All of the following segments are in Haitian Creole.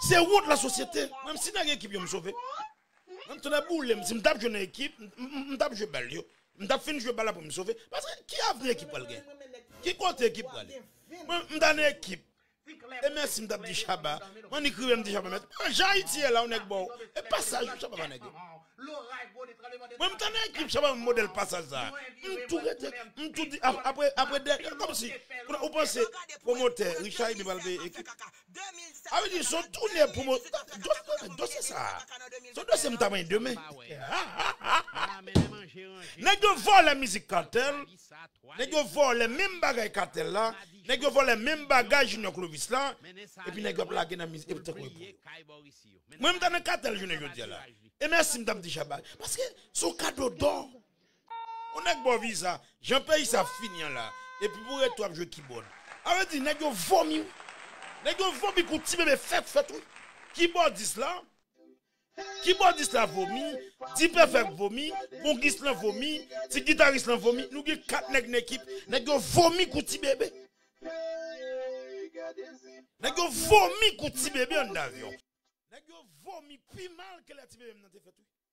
Se wont la sosyete. Menm si nan gen ekip yo m sove. Menm tonnè boule m si m tap jwe nan ekip m tap jwe bal yo. M tap fin jwe bal la pou m sove. Paske ki avni ekip pral gen? Ki kote ekip prale? Mwen m ta nan ekip. E mèsi m tap di Shabba. M annik rive m di Shabba mèsi. An jan Ayiti ye la yon nèg baw e pasaj ou Shabba pa nèg ou. Mwen m ta nan ekip Shabba ban m modèl pasaj sa. M tou rete m tou di apre dènye kòmsi ou panse pwomotè Richard Ebin pral peye ekip. 2017 Sa vle di son toune pwomo Tande dosye sa Son dosye m ta manyen demen Nèg yo vòlè mizik Kartel Nèg yo vòlè menm bagay Kartel la Nèg yo vòlè menm bagay Junior Clovis la Epi nèg yo ap lage nan mizik Epi tankou epo yo Mwen m ta nan Kartel jounen jodi a la E mèsi m tap di Shabba Paske son kado dò On nèg baw viza, jan peyi sa ap fini an la, epi pou rete wap jwe kibòd. A vre di nèg yo vomi wi. Nèg yo vomi kou ti bebe fèt fèt wi. Kibòdis la, kibòdis la vomi, Dipèfèk vomi, kongis lan vomi, ti gitaris lan vomi, nou gen 4 nèg nan ekip, nèg yo vomi kou ti bebe. Nèg yo vomi kou ti bebe anndan avyon. Nèg yo vomi pi mal ke lè ti bebe m nan te fèt wi.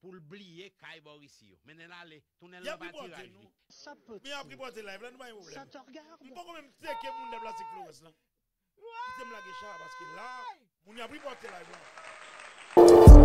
Pou l bliye kay Bòrisi yo. Mennen l ale. Tounen l nan patiraj li. Sa pati. Sa t regarde. Wooyy!